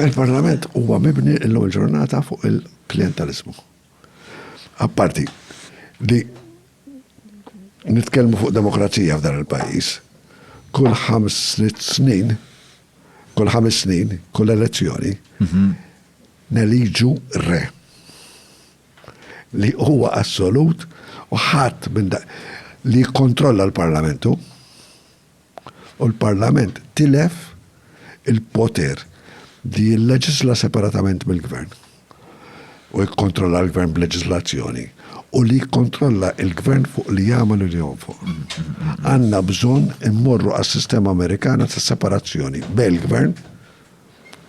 Il-Parlament huwa mibni illum il-ġurnata fuq il-klientelizmu. Apparti li nitkellmu fuq demokrazija f'dan il-pajjiż, kull ħams snin, kull ħames snin, kull elezzjoni, mhm. neliġu re li huwa assolut u ħadd minn li kontrolla l-parlamentu u l-Parlament tilef il-poter li jilleġisla separatament mill-Gvern u jikkontrolla l-Gvern b'leġislazzjoni u li jikkontrolla l-Gvern fuq li jagħmel u li jonfoq. Għandna bżonn immorru għas-sistema Amerikana ta' separazzjoni bejn il-Gvern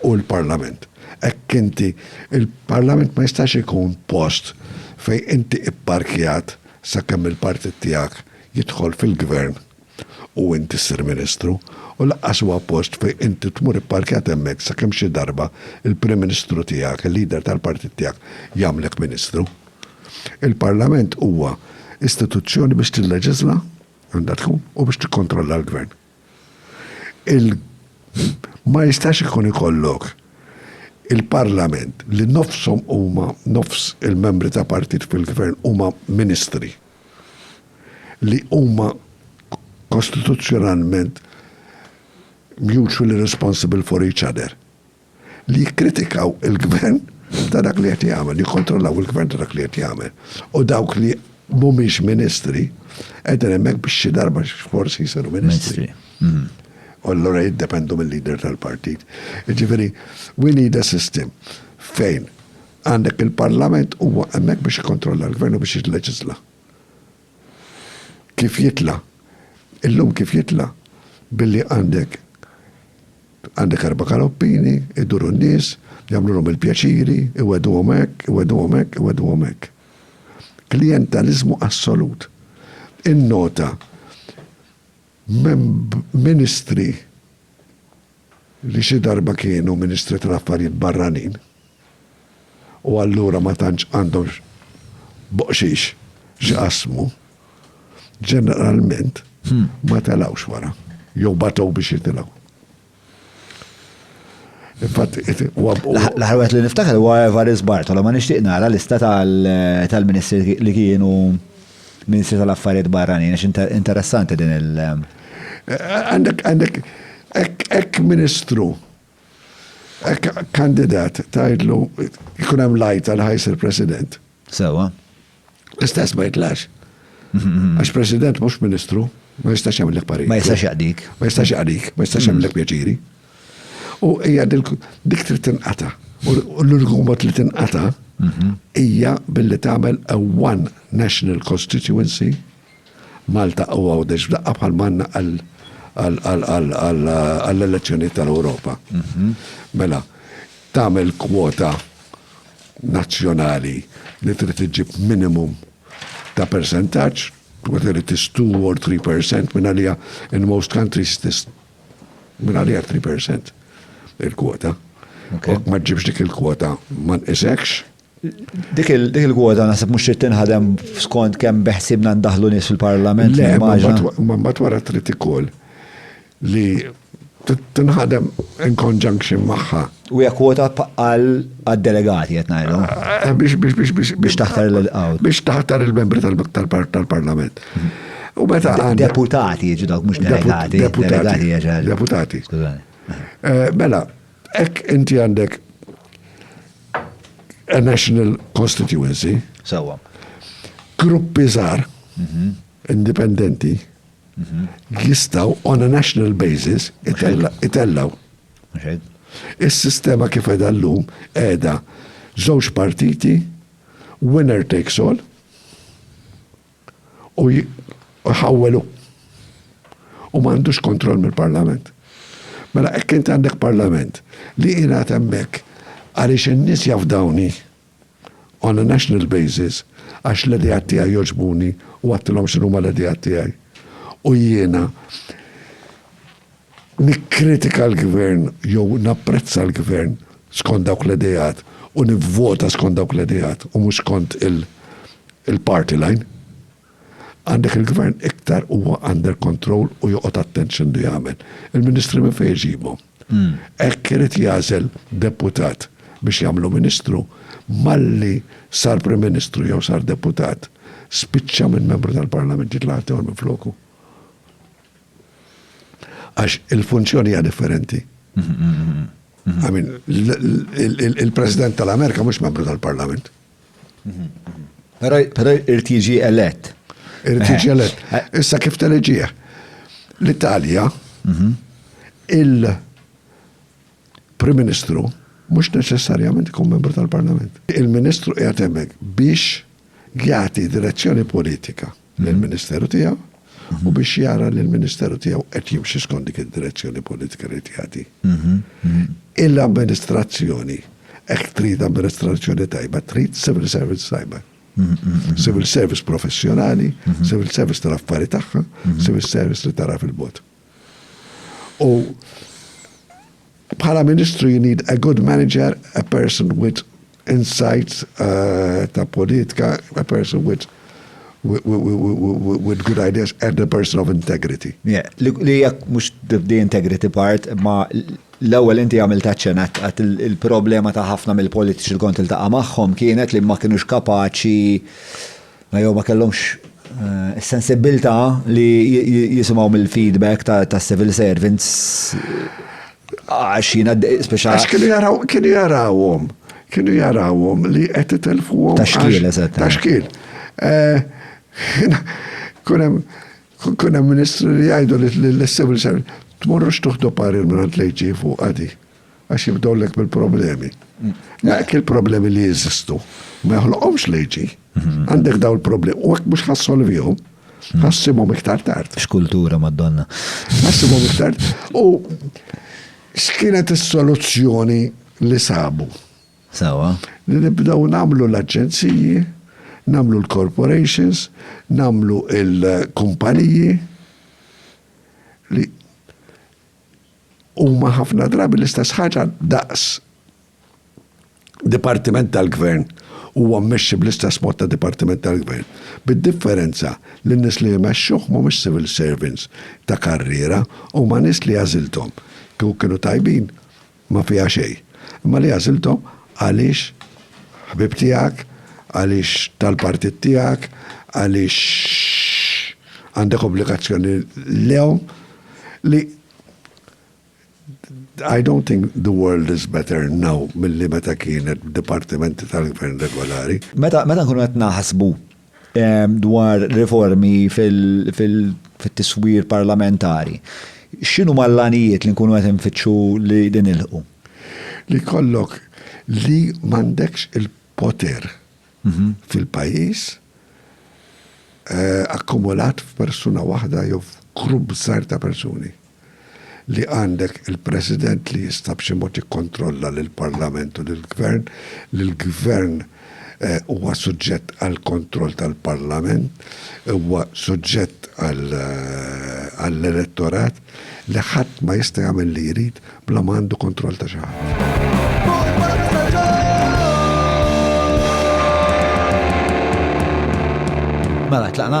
u l-Parlament. Hekk inti il-Parlament ma jistax ikun post fejn inti pparkjat sakemm il-partit tiegħek jidħol fil-Gvern u inti ssir Ministru, u lanqas huwa post fejn inti tmur ipparkjat hemmhekk sakemm xi darba l-Prim Ministru tiegħek, il-Leader tal-Partit tiegħek, jagħmlek Ministru. Il-Parlament huwa istituzzjoni biex tilleġiżla, għandha tkun, u biex tikkontrolla l-Gvern. Il ma jistax ikun ikollok il-Parlament li nofshom huma nofs il-membri ta' partit fil-Gvern huma Ministri. li huma kostituzzjonalment mutually responsible for each other. Li jikkritikaw il-gvern ta' dak li qed jagħmel, jikkontrollaw il-gvern ta' dak li qed jagħmel. U dawk li mhumiex ministri qegħdin hemmhekk biex xi darba forsi jsiru ministri. Mhm. U allura jiddependu mill-leader tal-partit. Ġifieri, we need a system fejn Għandek il-Parlament huwa hemmhekk biex jikkontrolla l-Gvern u biex jilleġisla. Kif jitla? Illum kif jitla? Billi għandek għandek erba' kaloppini, iduru n-nies, jagħmlulhom il-pjaċiri, iweduhom hekk, iweduhom hekk, iweduhom hekk. Klijentaliżmu assolut. Innota ministri li xi darba kienu Ministri tal-Affarijiet Barranin u allura ma tantx għandhom boqxiex x'jqassmu, ġeneralment ma telgħux wara jew batew biex jitilgħu. L-aħħar wieħed li niftakar huwa Evarist Bartolo, ma nixtieq nara lista tal-ministri li kienu Ministri tal-Affarijiet Barranin, għax interessanti din il- Għandek, għandek, ek ministru, ek kandidat tajdlu jkun hemm lajt għal ħajsir president. Sewa. L-istess ma jitlax. Mhm. Għax president mhux ministru, ma jistax jagħmel parir. Ma jistax jaqdik. Ma jistax jaqdik, ma jistax jagħmel pjaċiri. U hija dik trid tinqata. U l-uniku mod li tinqata mhm. hija billi tagħmel a one national constituency Malta u għawdex f'daqqa bħal manna għall-elezzjoni tal-Europa. Mhm. Mela, tagħmel kwota nazzjonali li trid iġib minimum ta' percentaġġ, whether it is 2 or 3% minn għalija in most countries it is Minn għalija 3% il-kwota. Ma ġibx dik il-kwota ma nqisekx. Dik il-kwota naħseb mhux trid tinħadem skont kemm beħsibna ndaħlu nies fil-Parlament. Le, ma mbagħad wara trid ikoll li tinħadem in conjunction magħha U hija kwota għal għad-delegati qed ngħidlu. Eh, biex biex biex biex biex taħtar il-qawt. Biex taħtar il-membri tal-Parlament. U meta deputati jiġu dawk mhux delegati. Deputati. Deputati. Eh, mela, hekk inti għandek a national constituency. Sawa. Gruppi żgħar mhm. indipendenti mhm. jistaw on a national basis itellaw Is-sistema kif qiegħda llum qiegħda żewġ partiti, winner takes all, u jħawwel hu. U m'għandux kontroll mill-Parlament. Mela hekk int għandek Parlament li jingħad hemmhekk għaliex in-nies jafdawni on a national basis għax l-ideat tiegħi jogħġbuni u għedtilhom x'inhuma l-ideat tiegħi. U jiena nikkritika l-Gvern jew napprezza l-Gvern skont dawk l-ideat u nivvota skont dawk l-ideat u mhux skont il-party line. Għandek il-Gvern iktar huwa under control u joqgħod attent x'għandu jagħmel. Il-Ministri minn fejn iġibhom? Hekk irid jagħżel deputat biex jagħmlu Ministru, malli sar Prim Ministru jew sar deputat, spiċċa minn Membru tal-Parlament jitlaq ħaddieħor minfloku. Għax il-funzjoni hija differenti. I mean, il-President tal-Amerika mhux Membru tal-Parlament. Pero irid jiġi elett. Irid jiġi eh. elett. Eh. Issa kif teleġieħ? L-Italja, mhm. il-Prim Ministru, mhux neċessarjament ikun membru tal-Parlament. Il-Ministru qiegħed hemmhekk biex jagħti direzzjoni politika. lill-Ministeru tiegħu u biex jara li l-Ministeru tiegħu qed jimxi skont dik id-direzzjoni politika li qed jagħti. Il-amministrazzjoni, hekk trid amministrazzjoni tajba, trid civil service tajba. Civil service professjonali, civil service tal-affari tagħha, civil service li tara fil-bot. U bħala ministru you need a good manager, a person with insight uh, ta' politika, a person with with good ideas and a person of integrity. Yeah, li jekk mhux the integrity part, ma l-ewwel inti għamil taċċenat għat il-problema ta' ħafna mill-politiċi l-kont il-taqa' magħhom kienet li ma kienux kapaċi Jew ma kellhomx is-sensibbiltà li jisimgħu mill-feedback ta' civil servants għax jiena speċa. Għax kienu jaraw, kienu jarawhom, kienu jarawhom li qed itelfuhom. Ta' xkiel, eżatt. Ta' xkiel. Kunem, kunem ministru li jgħidu li l-civil servant, tmorrux tuħdu parir minn għand lejġi fuq għadi, għax jibdowlek bil-problemi. Dak il-problemi li jizistu, ma joħloqomx lejġi. Għandek daw il-problemi. U għak mux ħassolviju, hmm. ħassimhom iktar tard. X'kultura madonna. Ħassimhom iktar. U x'kienet is-soluzzjoni li sabu? Sawa. Li nibdaw namlu l-aġenziji, namlu l-corporations, namlu il-kumpaniji li huma ħafna drabi l-istess ħaġa daqs dipartiment tal-gvern huwa mmexxi bl-istess mod ta' dipartiment tal-gvern, bid-differenza li n-nies li jmexxuh mhumiex civil servants ta' karriera, huma nies li għażilthom, kieku kienu tajbin ma fiha xejn, imma li għażilthom għaliex ħbieb tiegħek, għaliex tal-partit tiegħek, għaliex għandek obbligazzjoni lejhom, li I don't think the world is better now milli meta kienet b'dipartimenti tal-gvern regolari. Meta meta nkunu qed naħsbu ehm, dwar riformi fil-tiswir parlamentari, x'inhu mal-lanijiet li nkunu qed infittxu li din ilħu? Li kollok li m'għandekx il-poter fil-pajjiż, akkumulat f'persuna waħda jew f'grupp żgħir ta' persuni, li għandek il-President li jista' b'xi mod jikkontrolla lill-Parlament u lill-Gvern, li l-Gvern huwa suġġett għall-kontroll tal-Parlament, huwa suġġett għall-elettorat, Li ħadd ma jista' jagħmel li jrid bla ma għandu kontroll ta' xi ħadd. Mela, tlaqna?